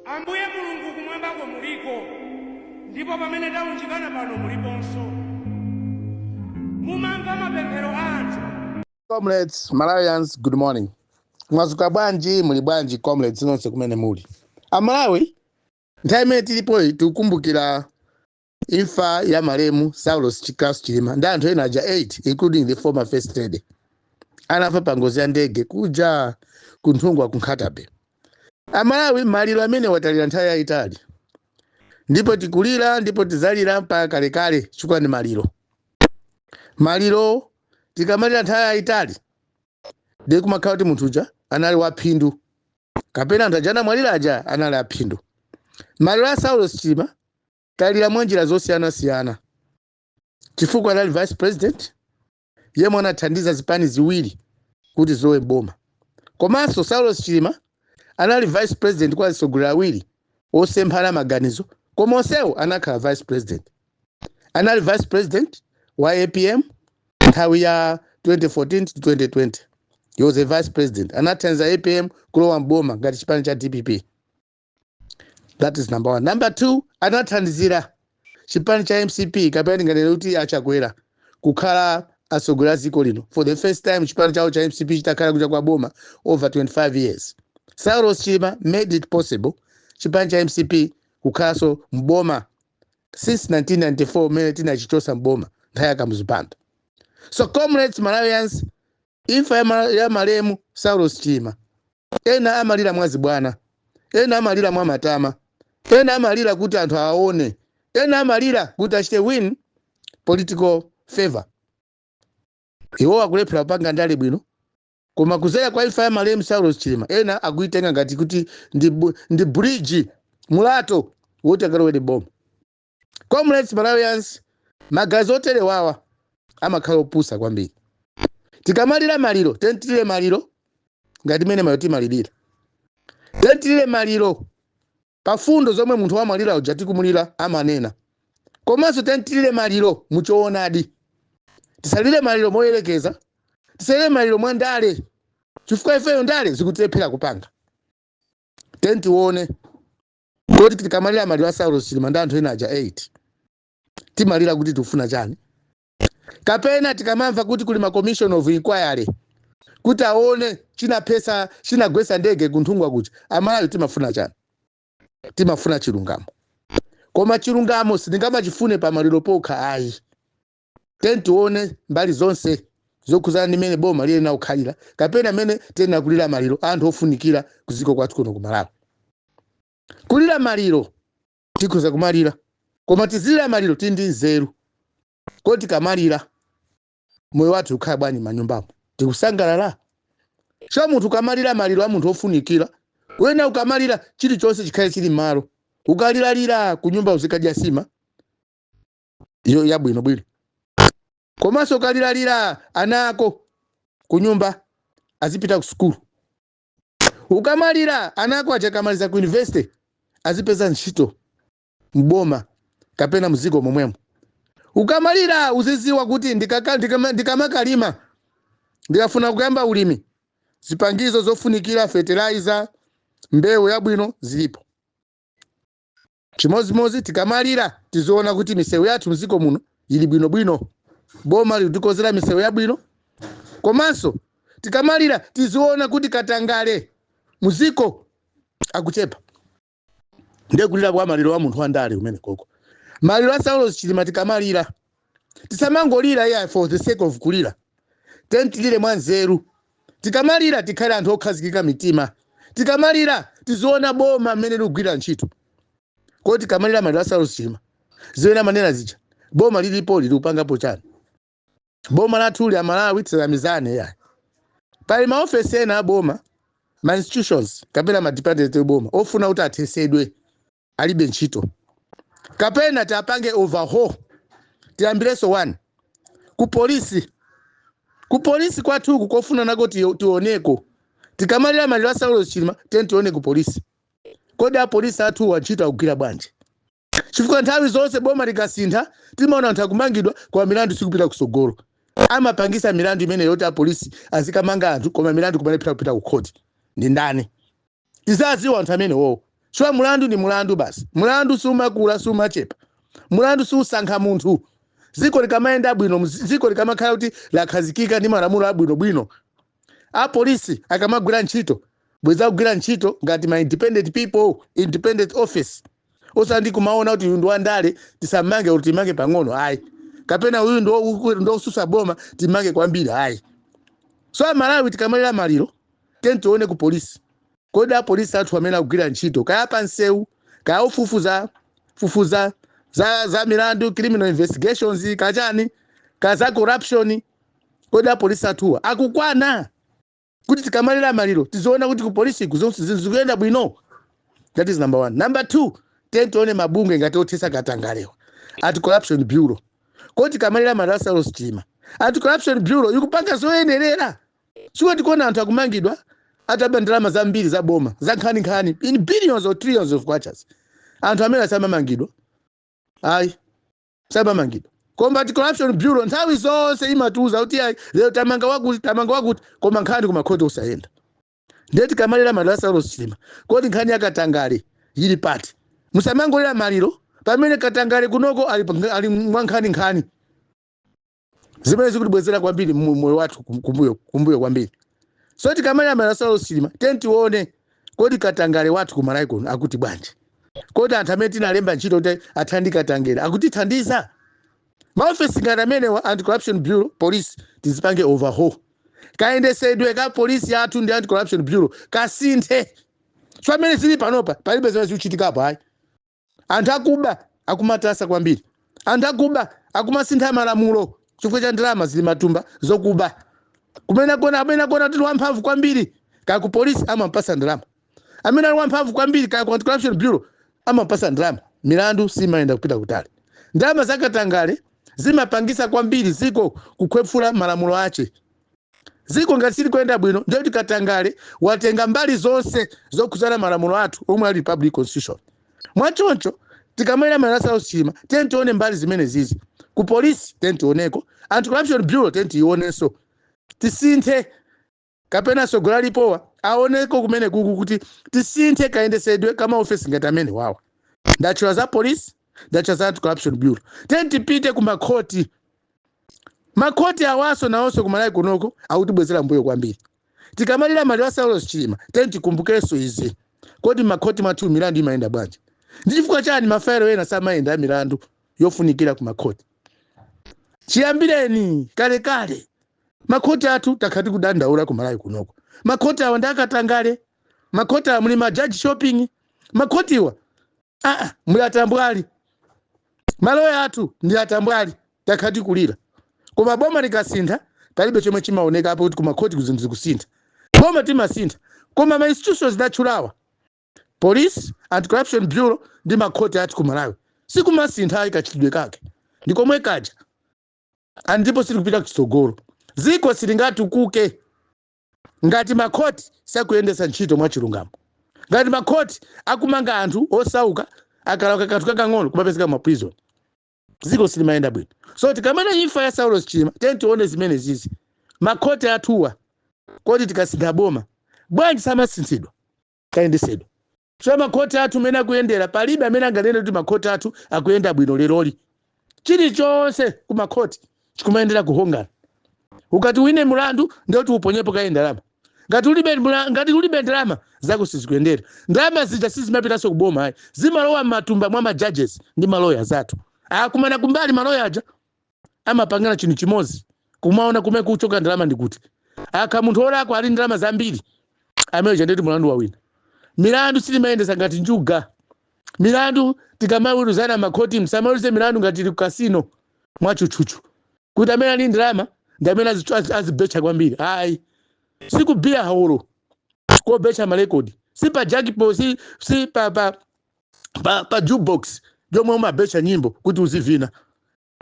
Ambuye Mulungu, kumwambako muliko, ndipo pamene taunjikana pano muliponso. Mumamva mapemphero a anthu. Comrades, Malawians, good morning. Mwazuka bwanji, muli bwanji comrades nonse kumene muli. Amalawi, nthawi imene tilipoyi tikukumbukira Imfa ya malemu Saulos Klaus Chilima ndi anthu ena aja 8 including the former first lady anafa pa ngozi ya ndege kuja ku Nthungwa ku Nkhata Bay. Amalawi maliro amenewa talira nthawi yayitali ndipo tikulira ndipo tizalira mpaka kalekale chifukwa ndi maliro. Maliro tikamalira nthawi yayitali ndiye kumakhala kuti munthu uja anali waphindu kapena anthu aja anamwalira aja anali aphindu maliro a saulos chilima talira mwa njira zosiyanasiyana chifukwa anali vice president yemwe anathandiza zipani ziwiri kuti zilowe mboma komanso saulos chilima anali vice president kwa atsogoleri awiri osemphana maganizo koma onsewo anakhala vice president anali vice president wa apm nthawi ya 2014 to 2020 he was a vice president anathandiza apm kulowa mboma ngati chipani cha dpp that is number one number two anathandizira chipani cha mcp kapena ndinganene kuti achakwera kukhala atsogoleri a dziko lino for the first time chipani chawo cha mcp chitakhala kunja kwa boma over 25 years saulos chilima made it possible chipani cha mcp kukhalanso mboma since 1994 mmene tinachichosa mboma nthawi ya kamuzu banda so comrades malawians imfa ya, ma, ya malemu saulos chilima ena amalira mwazibwana ena amalira mwa matama ena amalira kuti anthu awaone ena amalira kuti achite win political favor iwo akulephera kupanga ndale bwino Koma kudzera kwa imfa ya malemu Saulos Chilima ena akuitenga ngati kuti ndi, ndi bridge mulato woti akalowere boma. Comrades Malawians, maganizo oterewawa amakhala opusa kwambiri. Tikamalira maliro, tiyeni tilire maliro ngati mmene maliro timalirira. Tiyeni tilire maliro pa mfundo zomwe munthu wamwalira uja tikumulira amanena komanso tiyeni tilire maliro muchoonadi tisalire maliro moyerekeza tisalire maliro mwa ndale chifukwa ifeyo ndale zikutilephera kupanga tiyeni tione kuti tikamalira maliro a saulos chilima ndi anthu ena aja 8 timalira kuti tikufuna chani kapena tikamamva kuti kuli ma commission of inquiry kuti aone chinaphesa chinagwesa ndege kunthungwa kuja amalawi timafuna chani timafuna chilungamo koma chilungamo sitingamachifune pa maliro pokha ayi tiyeni tione mbali zonse zokhuzana ndi mmene boma liyenera kukhalira kapena mmene tiyenera kulira maliro anthu ofunikira ku dziko kwathu kuno ku malawi kulira maliro tikhoza kumalira koma tizilira maliro tili ndi nzeru kodi tikamalira moyo wathu ukhala bwanji manyumbamo tikusangalala chifukwa munthu ukamalira maliro a munthu ofunikira wena ukamalira chilichonse chikhale chili mmalo ukamalira kunyumba uzikadya nsima yabwino bwino komanso ukamalira ana ako kunyumba azipita ku sukulu ukamalira ana ako aja akamaliza ku university azipeza ntchito mboma kapena mziko momwemo ukamalira uziziwa kuti ndikaka- ndikama- ndikamakalima ndikafuna kuyamba ulimi zipangizo zofunikira fertilizer mbewu yabwino zilipo Chimodzimodzi tikamalira tiziona kuti misewu yathu mdziko muno ili bwino bwino, boma likutikonzera misewu yabwino komanso tikamalira tiziona kuti katangale mdziko akuchepa. Ndiye kulira kwa maliro a munthu wa ndale kumenekoko. Maliro a Saulos Chilima tikamalira tisamangolira iya for the sake of kulira tiyeni tilire mwanzeru tikamalira tikhale anthu okhazikika mitima tikamalira tiziona boma mmene likugwira ntchito kodi tikamalira maliro a saulos chilima zimene amanena zija boma lilipo likupangapo chani boma lathuli amalawi tisanamizane yayi pali maofesi ena aboma ma institutions kapena ma department aboma ofuna kuti athesedwe alibe ntchito kapena tiapange overhaul tiyambireso 1 ku polisi ku polisi kwathu uku kofunanso nako tio- tioneko tikamalira maliro a saulos chilima tiyeni tione ku polisi kodi apolisi athuwa ntchito akugwira bwanji chifukwa nthawi zonse boma likasintha timaona anthu akumangidwa koma milandu sikupita kusogolo amapangisa milandu imeneyo kuti apolisi azikamanga anthu koma milandu kumalephera kupita ku khoti ndi ndani tiziwadziwa anthu amenewo chifukwa mlandu ndi mlandu basi mlandu sumakula sumachepa mlandu susankha munthu dziko likamayenda bwino dzi- dziko likamakhala kuti lakhazikika ndi malamulo abwinobwino apolisi akamagwira ntchito bwenzi akugwira ntchito ngati ma independent people independent office osati kumaona kuti uyu ndi wandale tisamange kuti timange pang'ono ayi kapena uyu ndi woku- ndi wosusa boma timange kwambiri ayi so amalawi tikamalira maliro tiyeni tione ku polisi kodi apolisi athu amene akugwira ntchito kaya pa nsewu kaya ofufuza fufuza za, za milandu criminal investigations kachani kaya za corruption kodi apolisi athuwa akukwana kuti tikamalira maliro tiziona kuti ku polisi ku zonse zinthu zikuyenda bwino that is number one number two tiyeni tione mabungwe ngati othesa katangalewa anti corruption bureau kodi tikamalira maliro a saulos chilima anti corruption bureau ikupanga zoyenerera sikuti tikuona anthu akumangidwa ataba ndalama zambiri za boma za nkhaninkhani in billions or trillions of kwachas anthu amene asamamangidwa ayi samamangidwa koma anti corruption bureau nthawi zonse imatiuza kuti ayi lero tamanga wakuti tamanga wakuti koma nkhani kumakhoti osayenda ndiye tikamalira maliro a saulos chilima kodi nkhani ya katangale yili pati musamangolira maliro pamene katangale kunoko ali, pa- ali mwa nkhani nkhani zimene zikutibwezera kwambiri moyo wathu kum- kumbuyo kumbuyo kwambiri so tikamalira maliro a saulos chilima tiyeni tione kodi katangale wathu ku malawi kuno akuti bwanji kodi anthu amene tinalemba ntchito kuti athane ndi katangale akutithandiza maofesi ngati amenewa anti corruption bureau police tizipange overhaul kayendesedwe ka polisi yathu ndi anti corruption bureau kasinthe so mmene zili panopa palibe zimene zikuchitikapo ayi anthu akuba akumatasa kwambiri anthu akuba akumasintha malamulo chifukwa cha ndalama zili matumba zokuba kumene akona amene akona kuti wamphamvu kwambiri kaya ku polisi amampasa ndalama amene ali wamphamvu kwambiri kaya ku anti-corruption bureau amampasa ndalama milandu simayenda kupita kutali ndalama zakatangale zimapangisa kwambiri ziko kukhwefula malamulo ache ziko ngati silikuyenda bwino ndiye kuti katangale watenga mbali zonse zokhudzana malamulo athu omwe a republic constitution mwachoncho tikamalira maliro a saulos chilima tiyeni tione mbali zimenezizi ku polisi tiyeni tioneko anti corruption bureau tiyeni tionenso tisinthe kapena sogoleri alipowa aoneko kumenekuku kuti tisinthe kayendesedwe ka maofesi ngati amenewawa ndatchula za polisi ndatchula za anti corruption bureau tiyeni tipite ku makhoti Makhoti awaso nawoso ku Malawi kunoko akutibwezera mbuyo kwambiri. Tikamalira maliro a Saulos Chilima tiyeni tikumbukeso izi. Kodi mmakhoti mwathu milandu imayenda bwanji? Ndi chifukwa chani ma failo ena samayenda a milandu yofunikira ku makhoti? Chiyambireni kalekale makhoti athu takhala tikudandaula ku Malawi kunoko. Makhoti awa ndi akatangale. Makhoti awa muli ma judge shopping. Makhotiwa aa muli atambwali maloya athu ndi atambwali takhala tikulira koma boma likasintha palibe chomwe chimaoneka apo kuti kumakhotiku zinthu zikusintha boma timasintha koma ma institutions ndatchulawa police anti corruption bureau ndi makhoti athu ku malawi sikumasintha ayi kachitidwe kake ndi komwe kaja and ndipo silikupita kutsogolo dziko silingatukuke ngati makhoti sakuyendetsa ntchito mwachilungamo ngati makhoti akumanga anthu osauka akalakwa kanthu kakang'ono kumapezeka ma prison dziko silimayenda bwino so tikamanena imfa ya saulos chilima tiyeni tione zimene zizi makhoti athuwa kodi tikasintha boma bwanji samasinthidwa kayendesedwa So makhoti athu mmene akuyendera palibe amene anganene kuti makhoti athu akuyenda bwino leroli. Chilichonse ku makhoti chikumayendera kuhongana. Ukati uwine mulandu ndiye kuti uponyepo kaye ndalama. Ngati ulibe ndalama zako sizikuyendera. Ndalama zija sizimapitanso ku boma ayi. Zimalowa mmatumba mwa ma judges ndi ma lawyers athu. Akumana kumbali maloya aja. amapangana chinthu chimodzi kumaona kumene kuchoka ndalama ndi kuti akakhala munthu olakwa ali ndalama zambiri amene uja ndeti mulandu wawina milandu sitimayendesa ngati njuga milandu tikamaweruzana makhoti msamaweruze milandu ngati muli ku kasino mwatchutchutchu kuti amene ali ndalama ndi amene azichu- azi- azibetcha kwambiri ayi sikubiya holo kobetcha malekodi si pa jackpot si, si pa, pa pa, pa jukebox yomwe umabetcha nyimbo kuti uzivina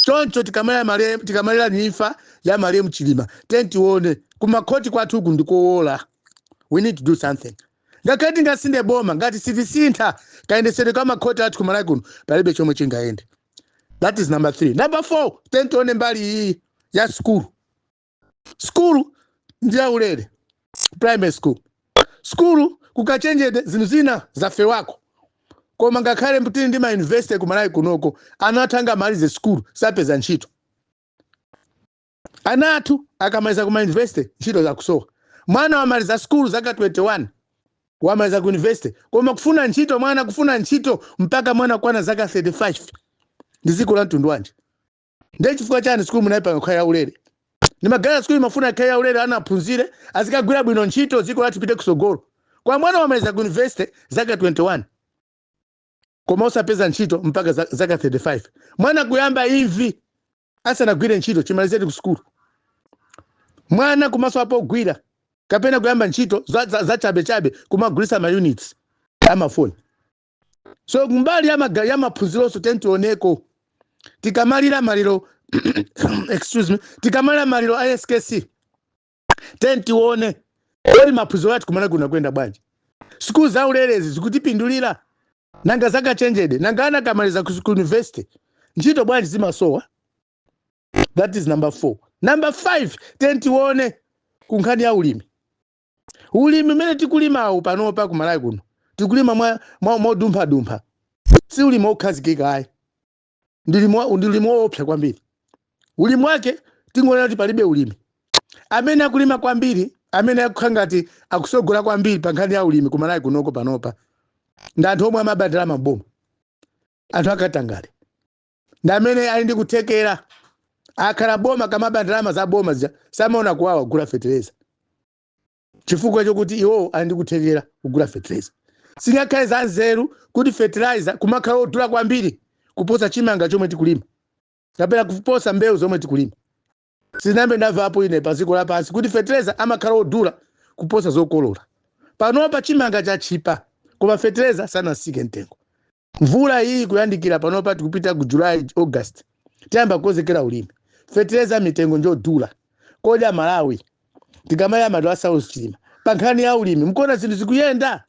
choncho tikamalira imfa ya malemu chilima tiyeni tione kumakhoti kwathu uku ndikowola we need to do something ngakhale tingasinthe boma ngati sitisintha kayendetsedwe ka makhoti athu kumalawi kuno palibe chomwe chingayende that is number three number four tiyeni tione mbali iyi ya sukulu skulu ndi yaulere primary school skulu kukachenjede zinthu zina zafewako koma ngakhale tili ndi mayunivesite ku malawi kunoko ana athu angamalize skulu sakupeza ntchito ana athu akamaliza ku mayunivesite ntchito zikusowa mwana wamaliza skulu zaka 21 wamaliza ku yunivesite koma kufuna ntchito mwana kufuna ntchito mpaka mwana kukwana zaka 35 ndi dziko la mtundu wanji ndiye chifukwa chani sikulu munayipanga kukhala yaulere ndimaganiza sikulu mumafuna ikhale yaulere ana aphunzire azikagwira bwino ntchito dziko lathu lipite kusogolo koma mwana wamaliza ku university zaka 21 koma osapeza ntchito mpaka za- zaka 35 mwana kuyamba imvi asanagwire ntchito chimalizireni ku sukulu mwana kumasowa pogwira kapena kuyamba ntchito za- za- zachabechabe kumagulisa maunits amafoni so kumbali ya maga- ya maphunzironso tiyeni tioneko tikamalira maliro excuse me tikamalira maliro a skc tiyeni tione kodi maphunziro athu kumene kuna kuyenda bwanji sikulu za ulelezi zikutipindulira nanga zaukachenjede nanga ana akamaliza ku ku university ntchito bwanji zimasowa that is number four number five tiyeni tione ku nkhani ya ulimi ulimi umene tikulimawu panopa kumalawi kuno tikulima mwa- mwa- mwadumphadumpha si ulimi wokhazikika ayi ndi ulimi wa- ndi ulimi woopsa kwambiri ulimi wake tingoona kuti palibe ulimi amene akulima kwambiri amene akukhala ngati akusogola kwambiri pa nkhani ya ulimi kumalawi kunoko panopa ndi anthu omwe amaba ndalama za boma anthu akatangale ndi amene ali ndi kuthekera akakhala m'boma akamaba ndalama za boma zija samaona kuwawa kugula fetereza chifukwa chokuti iwowo ali ndi kuthekera kugula fetereza singakhale za nzeru kuti fertilizer kumakhala odula kwambiri kuposa chimanga chomwe tikulima kapena kuposa mbewu zomwe tikulima sinambe ndamvapo ine pa dziko lapansi kuti fertilizer amakhala odula kuposa zokolola panopa chimanga chatchipa koma fertilizer sanasike mtengo mvula iyi ikuyandikira panopa tikupita ku july august tiyamba kukonzekera ulimi fetereza mitengo njodula kodi amalawi tikamalira maliro a saulos chilima pa nkhani ya ulimi mkuona zinthu zikuyenda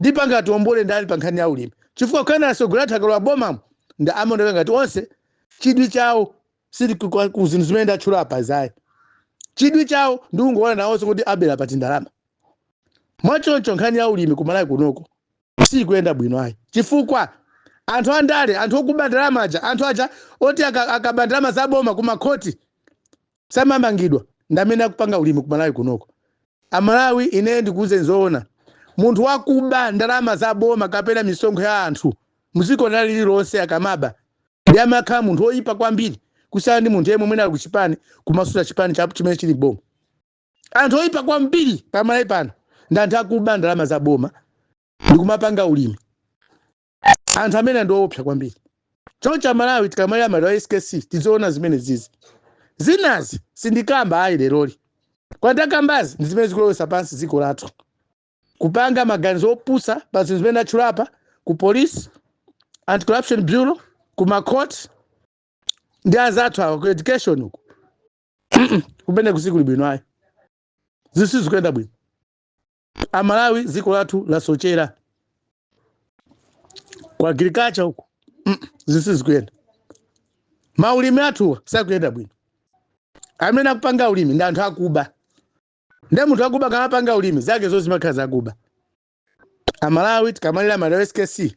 ndipo angatiombole ndani pa nkhani ya ulimi chifukwa kuyendera atsogoleri athu akalowa bomamo ndi amaoneka ngati onse chidwi chawo sili ku- kwa- ku zinthu zimene ndatchula apazi ayi chidwi chawo ndi kungoona nawonso kuti abera pati ndalama mwachoncho nkhani ya ulimi kumalawi kunoko sikuyenda bwino ayi chifukwa anthu andale anthu okuba ndalama aja anthu aja oti aka- akaba ndalama za boma ku makhoti samamangidwa ndi amene akupanga ulimi ku malawi kunoko amalawi ineyo ndikuuzeni zoona munthu wakuba ndalama za boma kapena misonkho ya anthu mdziko lina lililonse akamaba ndi amakhala munthu woyipa kwambiri kusiyana ndi munthu yemwe mwina ali kuchipani kumasutsa chipani cha chimene chili m'boma anthu oyipa kwambiri pamalawi pano ndi anthu akuba ndalama za boma ndikumapanga ulimi anthu amene ndiowopsa kwambiri choncho amalawi tikamalira maliro a skc tiziona zimenezizi zinazi sindikamba ayi leroli koma ndakambazi ndi zimene zikulowesa pansi dziko lathu kupanga maganizo opusa pa zinthu zimene ndatchulapa ku police anti corruption bureau ku macourt ndi azathu awa ku education uku kumene kusikuli bwino ayi zisi zikuyenda bwino amalawi dziko lathu lasochera ku agriculture uku zisi zikuyenda maulimi athu sakuyenda bwino amene akupanga ulimi ndi anthu akuba nde munthu akuba akamapanga ulimi zake zo zimakhala zakuba amalawi tikamalira malemu SKC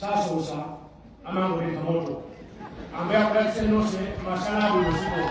sasosa amangoleka moto ambuye akudalitseni nonse masana abwino zikomo